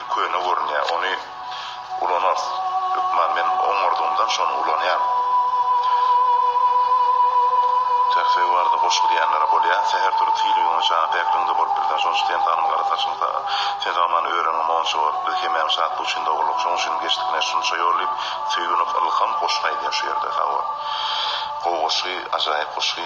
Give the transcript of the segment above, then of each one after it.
Köne görünýär, ony ulanarys. Hökman men oňardygymdan şony ulanýan. Töhfeý barada goşgy diýenlere bolýa. Säher turup hili güňe jana päkligiňde bolup bilseň şonça sen tanym gara saçyň saga. Sen sagamany öreniň monça bolup biz hemäň şatlyk üçin dogurlyk şoň üçin geçdikne şunça ýol diýip söýünik ylham goşgy aýdýa şu ýerde sag bol. Gowy goşgy ajaýyp goşgy.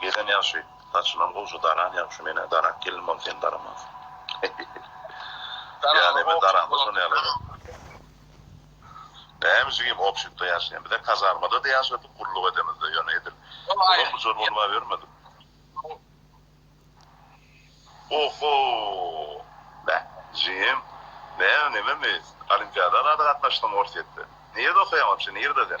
Gelen ýagşy, saçynam gowja daran ýagşy, men-ä darak gelnimam sen daramaz. Ýagny men daramda şol ýaly. Näme jigim obşitde ýaşaýan. Bize kazarmada-da ýaşadyk gulluk edemizde, ýöne edil Ozal bujar bolubabermedik. Oho! Bä, jigim, näme nememi, olimpiada zada gatnaşdyň Orsýetde. Nirede okaýaň wapşe, nirede sen?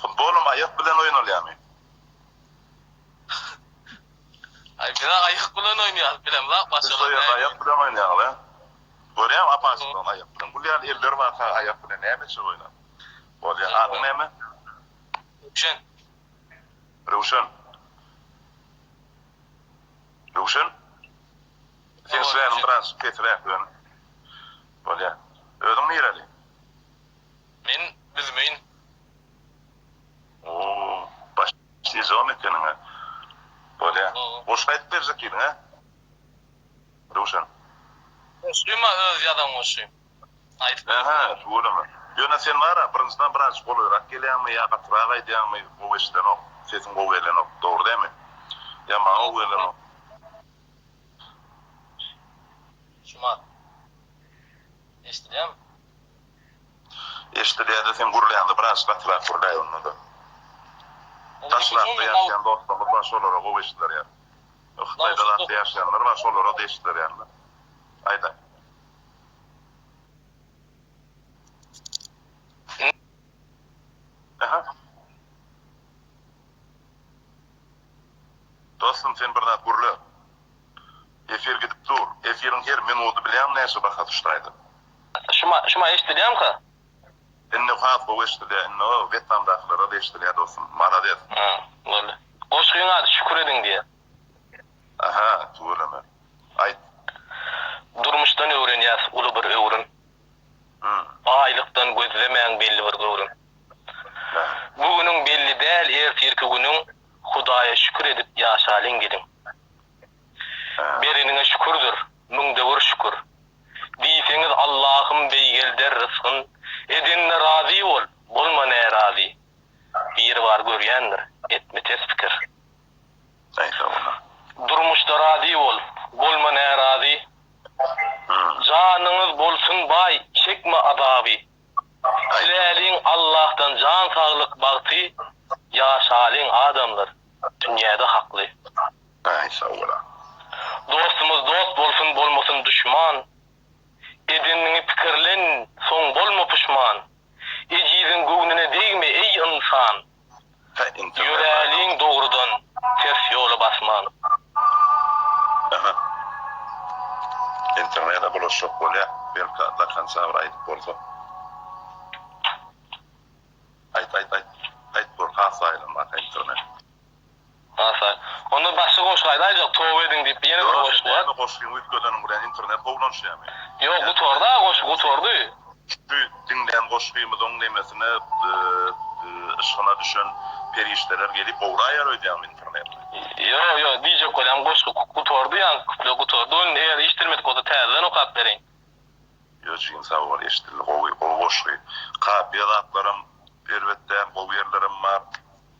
Futbolam aýak bilen oýnalýamy? Aý bizä aýak bilen oýnaýas bizem lap başga. Siz soýerde aýak bilen oýnaýaňyz a? Görýäňmi apaçyklaň aýak bilen gül ýaly eller bar saga aýak bilen näme etjek oýna. Bolýa adyň näme? Röwşen. Röwşen. Röwşen. Seň släniň biraz pesiräk ýöne. Bolýa. Özüň nireli? Men bilmeýin. Oo baş djom ekeniň a. Bolýa. Goşgy aýdyp berjek diýdiň a. Röwşen. Goşgym-a öz ýazan goşgym. Aýdyp berjek. Aha tuweleme. Ýöne sen bar-a birinjiden birazajyk golaýrak gelýäňmi ýa gatyrak aýdýaňmy gowy eşidenok. Sesiň gowy gelenok. Dogry dämi? Ýa maňa gowy gelenok. Şumat. Eşdilýärmi? Eşidilýärde sen gürlände biraz gatyrak gürläý onda-da. Daşrakda ýaşaýan dostlarymyz bar şolara gowy eşidiler ýaly. Hytaýda zatda ýaşaýanlar bar şolara-da eşidiler ýaly-da. Aýdaň. Aha. Dostum sen bir zat gürle. Efir gidip dur. Efiriň her minudy bilýäňmi näçe baha düşdi aýda. Şuma şuma eşdilýamka. Indi has gowy eşdilýä indi o wetnamdakylarada eşdilýä dostum malades. Hä boldy. Goşgyň ady Şükür ediň diýýä. Aha tüweleme. Aýt. Durmuşdan öwrenýäs uly bir öwrüm. Hum. Baýlykdan gözlemäň belli bir göwrüm. Hä. Bu günüň belli däl ertirki günüň Hudaýa şükür edip ýaşalyň geliň. Hä. Bereniňe şükürdir müňde bir şükür. Diýseňiz Allahym beýgelder rysgyn, Edende razy bol, bolma närazy. Biribar görýändir, etme ters pikir. Durmuşda razy bol, bolma närazy. Janyňyz bolsun baý, çekme azaby. Diläliň Allahdan jan saglyk bagty, Ýaşalyň adamlar, dünýäde hakly. Amin sag bola. Dostumuz dost bolsun bolmasyn duşman Edeniňi pikirlen soň bolma puşman Ejiziň göwnüne degme eý ynsan Ýöräliň dogrudan ters ýola basman. Aha. Internete bulaşjak bolýa. Belki do konca bir aýdyp bolsa. Aýt aýt aýt. Aýt gör has aýlanmaka internet. Hasa. Onda başga goşgy aýdaýjak, toba ediň diýip ýene bir goşgy bar. Näme goşgy üýtgedeniň bilen internet gowulanşýamy? Ýok gutardy aga goşgy gutardy. Şu diňlän goşgymyzyň nemesine yşgyna düşen perişdeler gelip owraýar öýdýäňmi interneti? Ýok ýok diýjek bolýan goşgy gutardy ýaňky kuplet gutardy ony eger eşidilmedik bolsa täzeden okap beriň. Ýok jigim sag bol eşidildi gowy gowy goşgy kapyýa zatlaram erbet däl gowy ýerlerem bar.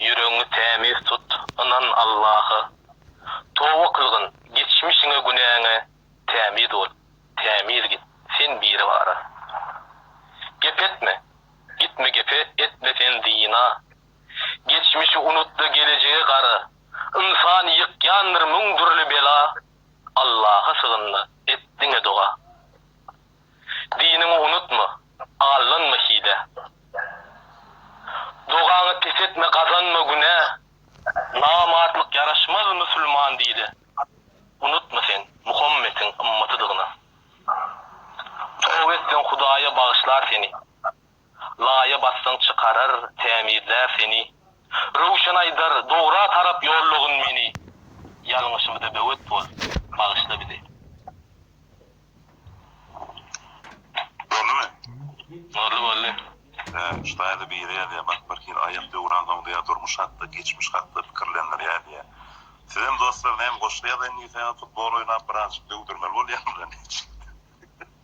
Ýüregiňi tämiz tut, ynan Allaha. Toba kylgyn, geçmişiňe, günäňe tämiz bol, tämiz git, sen Biribara. Gep etme, gitme gepe, etme sen zyna. Geçmişi unut-da gelejege gara, ynsany ýykýandyr müň dürli bela. Allaha sygyn-da, et diňe doga. Diniňi unutma, aldanma hile. Dogaňy pes etme, gazanma günä. Namartlyk ýaraşmaz musulman dile. Unutma sen, Muhammetiň ymmatydygyňy. Toba etseň, Hudaýa bagyşlar seni. Laýa bassaň çykarar, tämizlär seni. Röwşen aýdar, dogra tarap ýollagyn meni. Ýalňyşymyza böwet bol, bagyşla bizi. Boldumy? Boldy boldy. Hä, ştaýda biri ýazýar, bak bir hil aýak döwran soňdaýar durmuş hakda, geçmiş hakda pikirlendirýär diýýär. Sizem dostlar näme goşgy ýazaýyn diýseňiz futbol oýnap birazjyk döwdürmeli bolýarmyka neçe.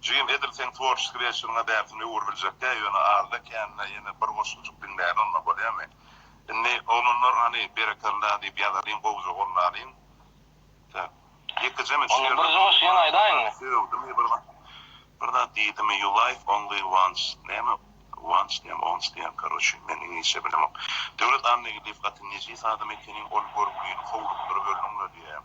Jim edil seň tworçeskiý režisiýoryňa däpini öwürip biljek däl, ýöne azda-kände ýene bir goşgucuk diňläýin onda, bolýamy? Indi, oglanlar, hany, berekella diýip ýazalyň, gowja gollalyň. Tä. Ýekejeme şu ýerde duruň, Maňa bir zat sögdümi, bir zat, bir zat diýdimi, you life only once, näme, once diýen, once diýen, karoçe, men iňlisçe bilemok. Döwlet Annageldiýew gaty nejis adam ekeniň, ol görgüliňi howlukdyryp öldüň-le diýýän.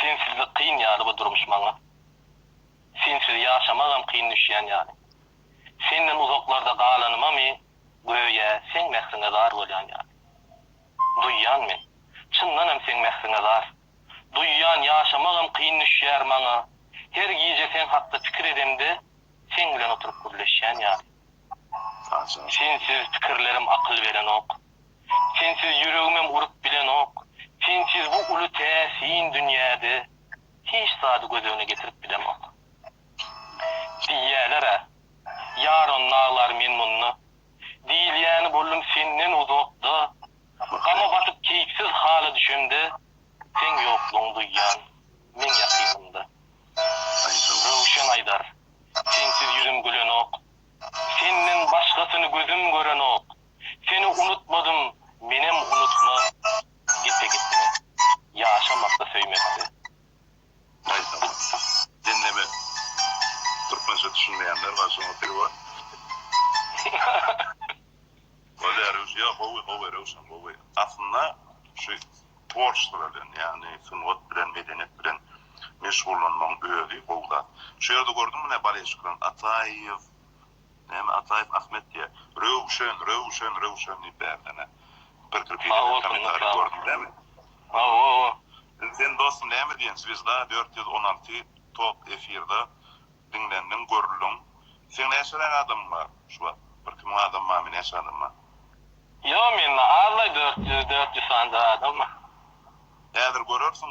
Sensizlik kyn ýaly bu durmuş maňa Sensiz ýaşamagam kyn düşýän ýaly Senden uzaklarda galanymamy Göýä seň mähriňe zar bolýan ýaly Duýýan men Çyndanam seň mähriňe zar Duýýan ýaşamagam kyn düşýär maňa Her gije seň hakda pikir edemde Seň bilen oturyp gürleşýän ýaly Sensiz pikirlerim akyl berenok. Sensiz ýüregimem urup bilenok, Sensiz bu uly täsin dünýäde Hiç zady göz öňüne getirip bilemok. Diýýäler-ä, ýaran naglar men munda, Diýilýäni boldum senden uzakda, Gama batyp keýpsiz hala düşemde, Seň ýoklugyňy duýýan men ýakynymda. Röwşen aýdar, Sensiz ýüzüm gülenok, Senden başgasyny gözüm görenok. Seni unutmadym, menem unutma Gepe gitme, ýaşamakda söýmekde. Gaýtam unutdym, diňleme. Türkmençe düşünmeýänler bar şoňa dil bar. Bolýar Röwş ýok gowy gowy Röwşan gowy aslynda şu tworçestvo bilen ýagny sungat bilen medeniýet bilen meşgullanmagyň özi gowy zat şu ýerde gördüm menä Baleşkdan Ataýew Näme Ataýew Ahmet diýýä. Röwşen, Röwşen, Röwşen diýip bärden-ä gyrkyryp ýören kommentariýa gördüň näme? Hawa-hawa. Sen dostum näme diýen Zwezda dört ýüz on alty top efirde diňlendiň, görüldiň. Seň näçeräk adamyň bar şu wagt? Bir iki müň adam barmy, näçe adam bar? Ýok mende azlaý dört ýüz, dört ýüz sanja adam bar. Häzir görersiň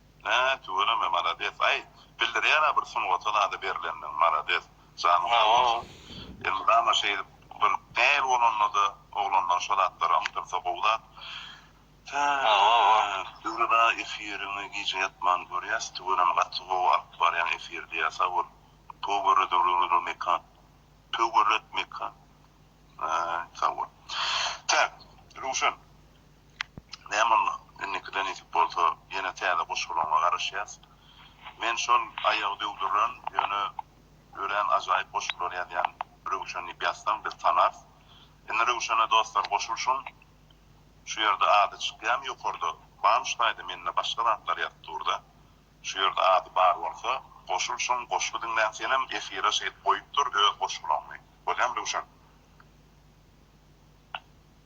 Nä tüweleme malades aý bildirýärä bir sungata zada berlendiň malades janyň sag bolsun elmydama şeýdip gün däl bolandada oglanlar şo zatlara ymtylsa gowy zat Döwlet aga efiriňi gije ýatman görýäs tüweleme gaty gowy alyp barýaň efirdi ýa sag bol Töwere döwrüňize mekan Töwere mekan Aý sag bol Tä Röwşen Nämolla, indikide nesip bolsa, ýene täze goşgularyňa garaşýas. Men şol aýagy döwdüren, ýöne örän ajaýyp goşgular ýazýan Röwşen diýip ýazsaň, biz tanarys. Indi Röwşene dostlar goşulşyň. Şu ýerde ady çykýamy ýokarda, Bamştaýda mende başga zatlar ýazyp dur-da. Şu ýerde ady bar bolsa, goşulşyň, goşgy diňlän senem efire şeýdip goýup dur öz goşgulaňy. Bolýamy Röwşen?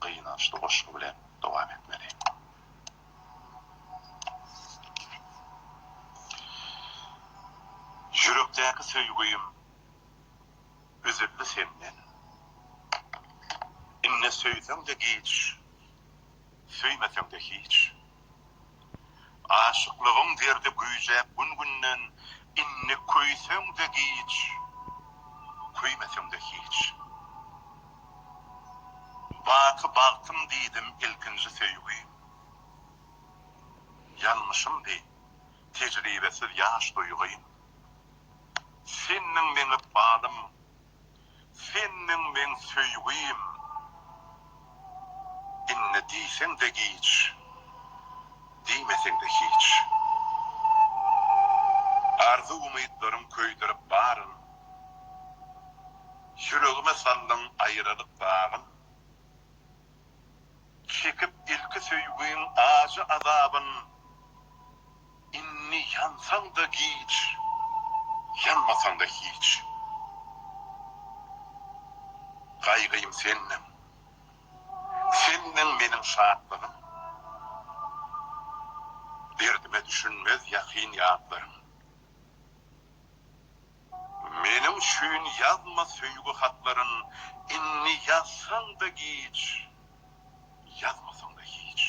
gynançly goşgy bilen dowam etmeli. Ýürekdäki söýgüim üzüldi senden. Indi söýseň-de giç, söýmeseň-de hiç. Aşyklygyň derdi güýjäp gün-günden, Indi köýseň-de giç, köýmeseň-de hiç. Baky bagtym diýdim ilkinji söýgi, Ýalňyşymdy tejribesiz ýaş duýgy. Sendiň meňep balym. Sendiň meň söýgim, indi diýseň-de giç, diýmeseň-de hiç. Arzuw-umytlarym köýdürip baryn, ýüregime saldyň aýralyk dagyn. Çekip ilki söýgiň ajy azabyn. Indi ýansaň-da giç, ýanmasaň-da hiç. Gaýgym sendiň, sendiň meniň şatlygym. Derdime düşünmez ýakyn ýatlaryň. Meniň üçin ýazma söýgi hatlaryn, indi ýazsaň-da giç, ýazmasaň-da hiç.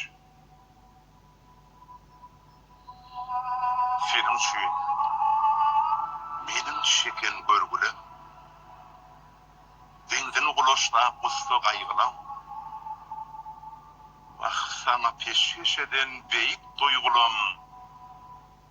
Seniň üçin meniň çeken görgüle Benzin gulaşlap gussa gaýgylaň Wah, saňa peşgeş eden beýik duýgulam.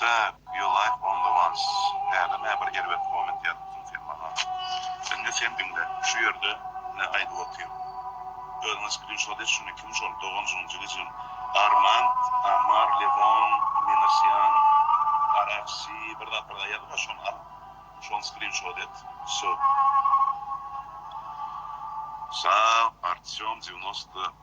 Täk you like only once Häli mä bir erbet komment ýazupdyň sen maňa Indi sen diňle şu ýerde ne aýdyp otyr Özüňe skrinşot et şuny kim şol doganjygym jigijigim Armand Amar Lewon Minasyan RFC bir zat bir zat ýazypka şony al şony skrinşot et söw. Sag Artýom devýnostda.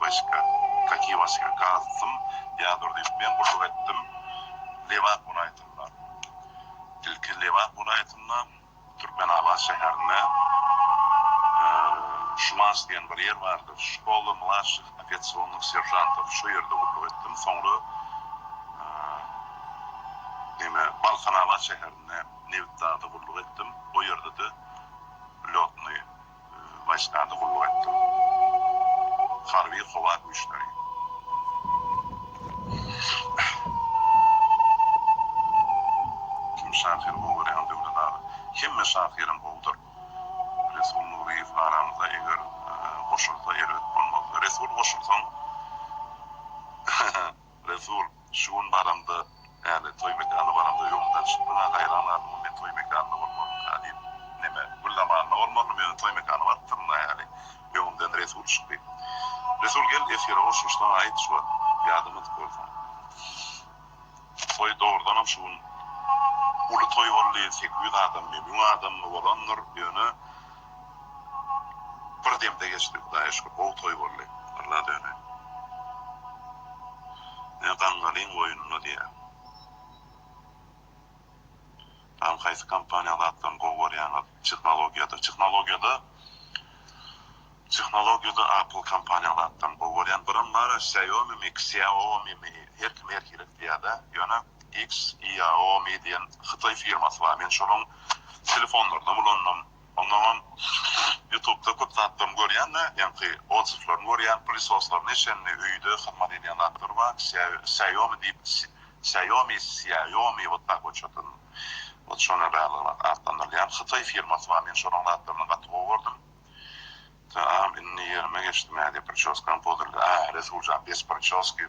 Washka, Kaki washka, Gazdym, Ýadur diýip, men guşuk etdim. Lebap welaýatynda. Ilki Lebap welaýatynda, Türkmenabat şäherinde Şumas diýen bir ýer bardyr, Şkola mladşih ofiasionnyh seržantov, şo ýerde gulluk etdim. Soňra neme, Balkanabat şäherinde Nebitdagda gulluk etdim. O ýerde-de lýotnyý. Başnada gulluk etdim. Harby howa güýçleri. Kim şahyry gowy görýäň Döwlet aga? Hemme şahyram gowudyr. Resul Nuryýew aramyza eger goşulsa erbet bolmaz. Resul goşulsaň Resul, Şu gün baramda, Päli, toý mekanyna baramda öňümden çykdyň-a, gaýran galdyňmy, men toý mekanynda bolmalymyka? diýip. Neme, gül zamanynda bolmalymy, özüm toý mekanyna barypdyryn-a häli. Öňümden Resul çykdy. Resul, Gel, esgere goşulyşsaň-a, aýt, şu wagt, ýadamadyk bolsaň. Toý dogrudanam şu gün uly toý boldy, sekiz ýüz adammy, müň adammy bolandyr, ýöne. Bir demde geçdi hudaýa şükür gowy toý boldy Alla döne ne gaňgalyň goýnuna diýä. Salam haýsy kompaniýaň zatlaryny gowy görýäňiz tehnologiýada tehnologiýada tehnologiýada apple kompaniýaň zatlaryny gowy görýän birim bar xiaomi mi xiaomi mi her kim her hili diýädä ýöne Xiaomi diýen hytaý firmasy bar. Men şonuň telefonlarynam ulandym. Ondanam ýutubda köp zatlaryny görýän-de, ýaňky odsewlaryny görýän, pylysoslaryny eşenini, öýde hyzmat edýän zatlary bar. Xiaomi diýip, Xiaomi, Xiaomi wot tak wot şodan wot şona baglyrak atlandyrylýan hytaý firmasy bar. Men şonuň zatlaryny gaty gowy gördüm. Taam, indi ýerime geçdim. Hä diýip, priçoskam pozulýa. Hä, Resuljan, bez priçoski.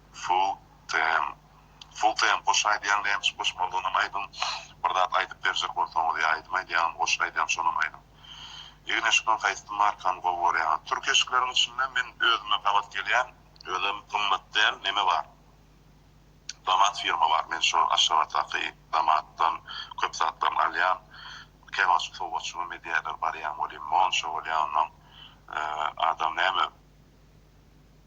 Sultan. Sultan goşgy aýdýaň nämiş goşmalydygynam aýdyň bir zat aýdyp berjek bolsaňyz ýa aýdym aýdýaňam goşgy aýdýaň şonam aýdyň. Egin eşikden haýsy markany gowy görýäňiz? Türk eşikleriň içinde men özüme gabat gelýän özem gymmat däl neme bar Damat firma bar men şo Aşgabatdaky Damatdan köp zatlaryny alýan käwagt sowgatjygym edýäler barýan welin monça bolýan ondan adam näme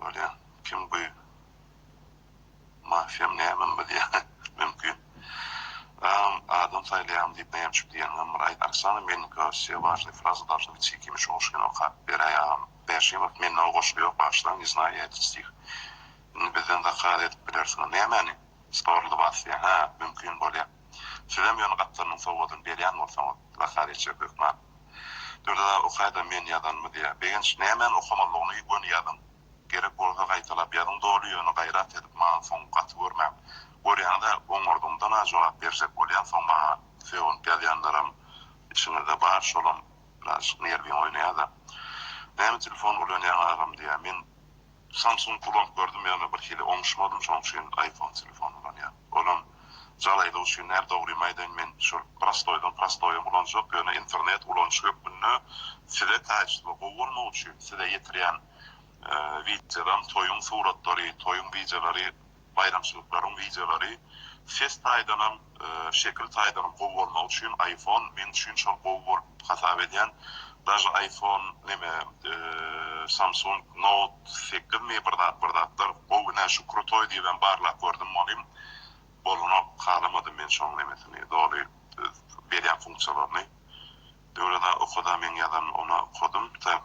Bolýa kim bu mafiýam nämem bilýä mümkin aam adam saýlaýam diýip näme üçip diýeniňem bir aýt Oksana Melnikova wse wažnyý frazy dalşyň içi kimin şu goşgyny okap beräý agam Bäşimow mende o goşgy ýok bagşlaň ne znaýy ýaýtdy stih indi bizden zakaz edip bilersiňiz nämäni stol lybas diýen hä mümkin bolýa. Sizem ýöne gapdalynyň sowgadyny berýän bolsaňyz, Zahariýa içer hökman. Dürdaga okaýda men ýazanymy diýýär. Begenç nämäni okamalydygyny göni ýazyň. Gerek bolsa gaýtalap ýazyň doly ýöne gaýrat edip maňa soň gaty görmäň. Görýäňiz-ä oňardygyňdan-a jogap berjek bolýaň soň maňa. Sögünip ýazýanlaram içiňizde bar şolam birazjyk nerwiň oýnaýa-da. Näme telefon ulanýaň agam diýýär. Men Samsung ulanyp gördüm ýöne birhili oňuşmadym şoň üçin iPhone telefon ulanýan. Olam jalaýlar üçin däl dogrymy aýdaýyn men şol prostoýdan prostoýam ulanjak ýöne internet ulanyş hökmünde size kaýyştly gowy bolmagy üçin size ýetirýän wideodan toýuň suratlary toýuň wideolary Baýramçylyklaryň wideolary ses taýdanam, şekil taýdanam gowy bolmagy üçin iPhone men üçin şol gowy bolup hasap edýän. Daže iPhone neme Samsung Note sekiz mi bir zat bir zatlar gowy nä şu krutoý diýibem barlap gördüm onim bolanok halamadym men şoň nemesini doly berýän funksiýalaryny Döwleda okada meň ýazan ona okadym tak.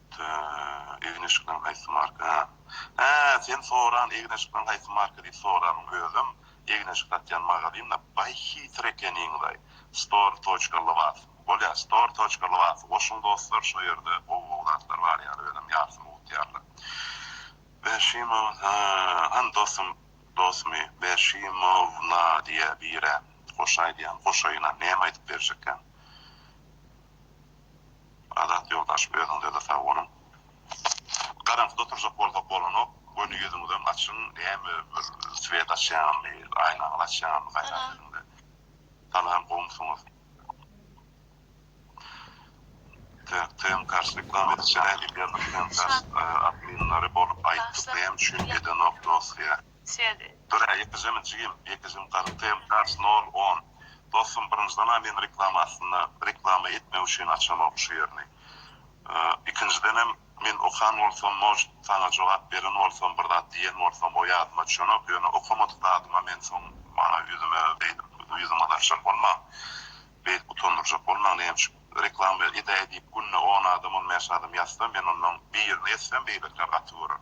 Tüü, egin eşikleň haýsy marka? Hä. Hä, sen soran egin eşikleň haýsy marka diýip soranyň özem egin eşik satýan magazynda baý hitr ekeniňlaý. Store toçka lybas. Bolýa, store toçka lybasy goşuň dostlar şo ýerde gowy gowy zatlar bar ýaly özem ýarsyny utýarlar. Berşimow, hä, hany dosym, dosmy, Berşimowna diýä birä, goşaý diýýän, goşaýyna näme aýdyp berjekkäň. Azat ýoldaş özüňizede sag boluň. Garaňkyda oturjak bolsak bolanok, göni ýüzüňizem açyň, näme bir swet açýaňyzmy, aýnaňyzy açýaňyzmy gaýrat ediňde. Salam gowumsyňyz. Tek TmCars reklam edijä nädip ýazyp TmCars adminleri bolup aýtdyk näme üçin edenok dosýa. Sed. Dürä ýekejemmi jigim, ýekejemi garypym, tars nol on. Dostum birinjiden-a men reklama aslynda reklama etmek üçin açamok şu ýerini. Ikinjidenem men okan bolsam может saňa jogap beren bolsam bir zat diýen bolsam o ýadyma düşenok ýöne okamadyk zadyma men soň maňa ýüzüme beýdip ýüzüňe daşak bolmaň beýdip utandyrjak bolmaň näme üçin reklama edäý diýip günde on adam on bäş adam ýazsa men ondan birini etsem beýlekiler gaty görer.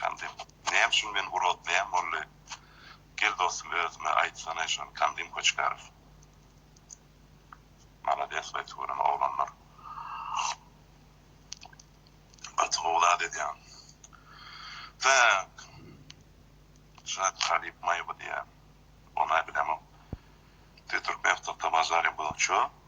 Kandym, näme üçin men urotlaýan bolly? Gel dostum özüme aýtsana şony Kandym Koçkarow. Malades we tugryn oglanlar. Gaty gowy zat edýäň. Tak. Şa talyp maýa bu diýýä. Onay bilemok. Türkmen ýurtda bajarýa bu ço.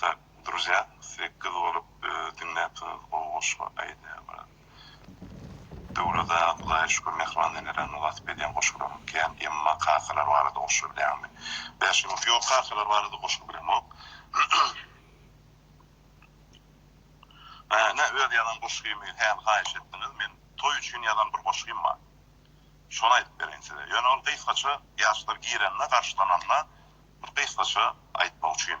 Tak druzya siz gyz bolup diňläpsiňiz gowy goşgy aýdýar brat Döwlet aga Hudaýa şükür mähriban enelerni wasp edýän goşgularyň kän emma kakalar barada goşgy bilýäňmi bäşim ýok kakalar barada goşgy bilemok nä öz ýazan goşgymy häli haýyş etdiňiz men toý üçin ýazan bir goşgym bar şony aýdyp bereýin size ýöne ol gysgaça ýaşlar girende garşylananda bir gysgaça aýtmak üçin.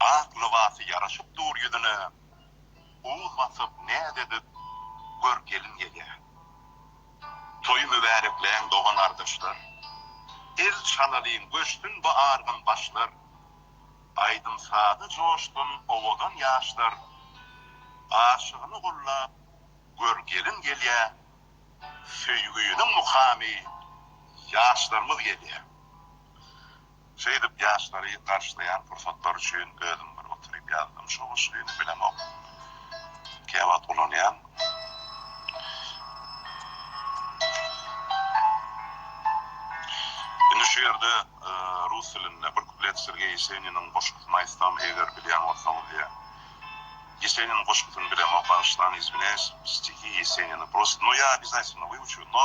Ak lybasy ýaraşyp dur ýüzüne, Uz basyp näz edip gör gelin gelýär. Toý mübärekläň dogan-gardaşlar, El çalalyň göçsün bu argyn başlar, Aýdym-saza joşsun owadan ýaşlar, Aşygyny gullap gör gelin gelýär. Söýgüniň mukamy, Ýaşlarymyz gelýär. Şeýdip ýaşlary garşylaýan pursatlar üçin özüm bir oturyp ýazdym şu goşgyny bilenok käwagt ulanýan. Indi şu ýerde rus dilinde bir kuplet Sergeý Ýeseniniň goşgusyny aýtsam eger bilýän bolsaňyz diýýä. Ýeseniniň goşgusyny bilemok bagyşlaň izwinýaýs stihi Ýesenini prosta no ýa obýazatýlno wyuçu no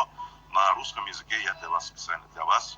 na ruskom ýezyke ýa dla was spesialno dla was.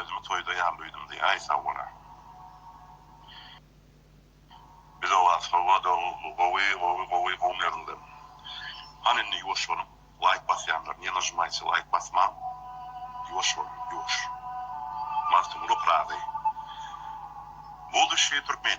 Özümi toýda ýaly duýdum diýýär. Aý sag bola. Bizoba sowada gowy gowy gowy gowy nerwden. Hany indi ýuwaş boluň. Laýk basýanlar niýe nažymaýçy laýk basmaň. Ýuwaş boluň ýuwaş. Magtymguly Pyragy. Buduçiý türkmen.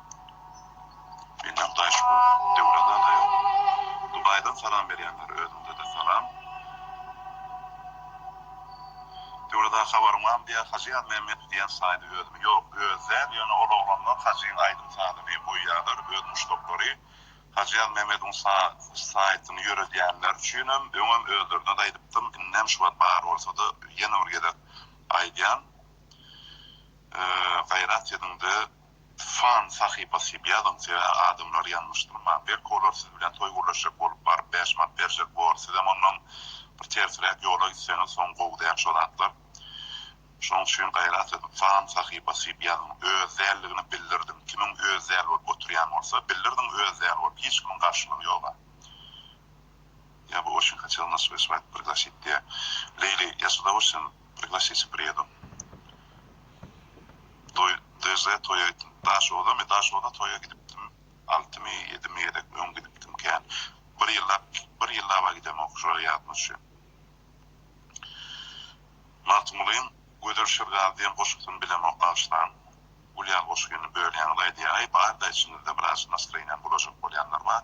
Menden Hudaýa şükür Döwran aga ýok. Dubaýdan salam berýänler özüňdede salam. Döwran aga habaryň barmy diýýär Hajy Ýazmämmedow diýýän saýdy özümi ýok özi däl ýöne ol oglanlar Hajyň aýdym sazyny goýýarlar öz muşdaklary Hajy Ýazmämmedowyň sa saýtyny ýöredýänler üçinem öňem özlerinede aýdypdym indem şu wagt bar bolsada ýene bir gezek aýdýan gaýrat ediňde. Fan sahypasy ýazyň sebä adamlar ýalňyşdyrma belki olar siz bilen toý gurlaşjak bolup baryp bäş mant berjek bor sizem ondan bir tersiräk ýola gitseňiz soň gowy däl şo zatlar şoň üçin gaýrat ediň fan sahypasy ýazyň öz dälligini bildirdiň kimiň öz däl bolup oturýan bolsa bildirdiň öz däl bolup hiç kimiň garşylygy ýoga ýa bu oçin haçal naşyk aşyp aýt priglashit diýä leýli ýa sudawuşin. Priglasić Bredu Toý DZ toýa gitdim Daşodamy Daşoda toýa gidipdim Altymy ýedimi gezek öň gidipdim kän Bir ýyllap bir ýyllaba gidemok şoýa ýadyma düşýär Magtymgulyň Gözel şirgazy diýen goşgusyny bilemok bagyşlaň Gulýar goşgyny bölýäňiz aýdýaý barda içiňizde biraz nastroýeniýam bulažak bolýanlar bar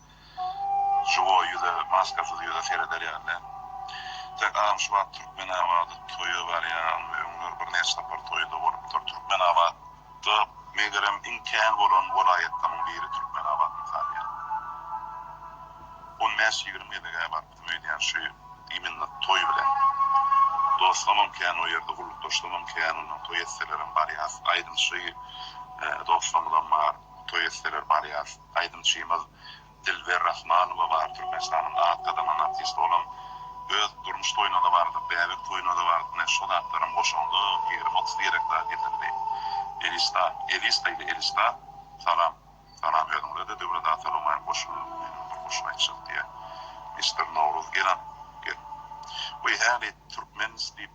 Jugo ýüze, maskasyz ýüze sereder ýaly. Tek agam şu wagt Türkmenabada toýa barýan we öňler birnäçe sapar toýda bolupdyr. Türkmenabada megerem iň kän bolan welaýatlaryň biri Türkmenabat mysalýa. On bäş ýigrimi gezeg-ä barypdym öýdýän şu immino toý bilen. Dostlamam kän o ýerde gullukdaşlamam kän ondan toý etselerem barýas. Aýdymçy dostlarymyzam bar toý etseler barýas. Aýdymçymyz Dilber Rahmanowa bar, Türkmenistanyň at gazanan artisti, olam öz durmuş toýuna-da bardy, bäbek toýuna-da bardy, ine, şo zatlaram goşuldy, ýigrimi, otuz direk zat getirdi. Elista, Elista ile Elista, salam. Salam özüňize-de, Döwlet aga salawmaýam goşuly, meniňem bir goşgy aýtjak diýýä. Mister Nowruz, gel, a, gel. Weý, häli türkmenis diýip,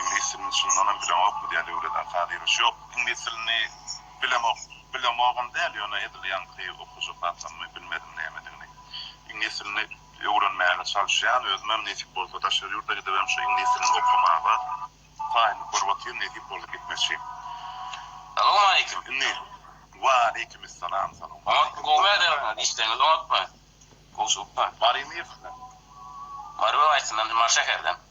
Iňlis dilini çyndanam bileňokmy diýýär Döwlet ata Diýruş. Ýok, iňlis dilini bilemok. Bilemogam däl, ýöne edil ýaňky okujak zatlarymy bilmedim nämedigini. Iňlis dilini öwrenmäge çalyşýan, özümem nesip bolsa daşary ýurda gidibem şu iňlis dilini okamaga taýynlyk görüp otyryn, nesip bolsa gitmekçi. Salowmaleýkim, indi. Waleýkimessalam, salowmaleýkim. Oňat gowy mäzem bilen işleňiz oňatmy? Gowy çykypdyr. Mary Myhman. Mary welaýatyndan, Mary şäherden.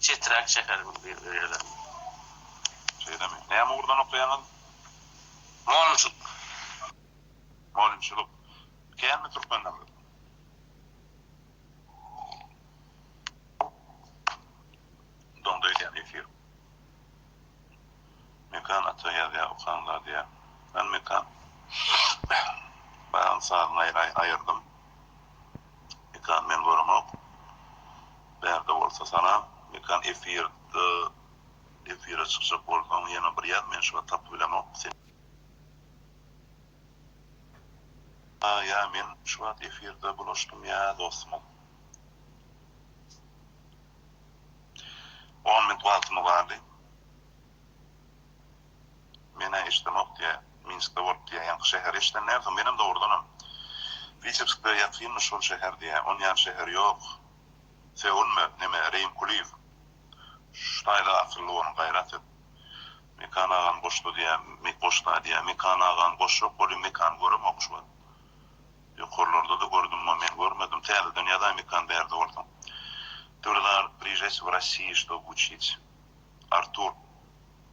Çeträk şäheriň eýelerine. Şeýlemi? Näme ugurdan okaýaňyz? Mugallymçylyk. Mugallymçylyk. Känmi türkmen diliniz? Doňda öýdýän efir. Mekan ata ýazýar, okan zady ýa. Hany Mekan? Bagyň sazyny aýyrdym. Mekan men göremok. Bärde bolsa salam. Mekan efirde efire çykjak bolsaň ýene bir ýaz men şuwagt tapyp bilemok seni. Ha ýa men şuwagt efirde bulaşdym ýa dostumyz. On minut wagtymyz galdy. Men-ä eşidemok, diýýä. Minskde bolup, diýýä, ýaňky şäheri eşiden dälsiň? Menem dogrudanam, Witebsgde ýakynmyş şol şäher, diýýä. Ony ýaly şäher ýok. Sögünme, neme, Reým Kulyýew. Şu taýda akylly boluň, gaýrat et. Mekan agam goşdy, diýýä. Goşda, diýýä. Mekan agam goşjak bolýa, Mekany göremok şu wagt. Ýokarlarda-da gördüm-ä, men görmedim. Täzeden ýazaý, Mekan bärde bolsaň. Döwlet aga, prijeýte w Rossiýi, ştob uçit. Artur.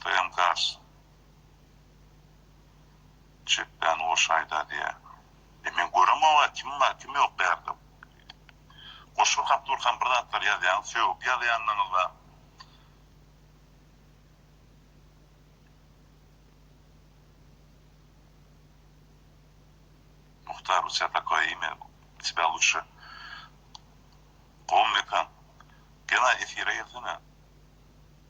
Toýam gars. Çepbän goşgy aýda diýä. E men göremog-a kim bar kim ýok bu ýerde. Goşgy okap durkam bir zatlar ýazýaňyz sögüp ýazýandyňyz-la. Muhtar bu tä takoýe ime u tebä lutşe. Gowy mekan. Gena efire gelsene.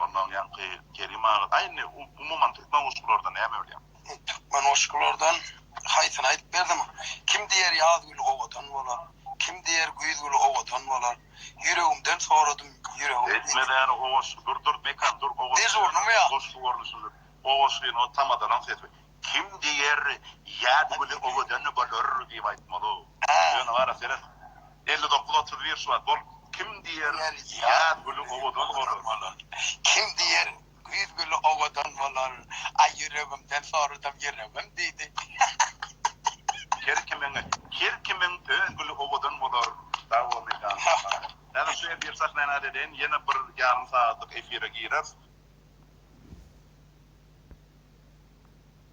Ondan ýaňky Kerim aga aý indi umuman türkmen goşgulardan näme bilýäň. Türkmen goşgulardan haýsyny aýdyp berdim. Kim diýer ýaz güli owadan bolar. Kim diýer güýz güli owadan bolar. Ýüregimden soradym ýüregim. Etme däne o goşgy dur dur Mekan dur o goşgy. Dežurnymy ýa. Goşgy görnüşinde o goşgyny o tamadalaň sesi. Kim diýer, ýa bu güni owadan bolar diýip aýtmaly. Ýöne gara seret, elli dokuz otuz bir Şubat bol. Kim diýer, ýaz güni owadan bolar. Kim diýer, güýz güni owadan bolar. Aý ýüregimden soradym, ýüregim diýdi. Her kimiň, her kimiň öz güni owadan bolar. Sag bol Mekan. Häzir şu efir sahnanat edeýin, ýene bir ýarym sagatlyk efire gireris.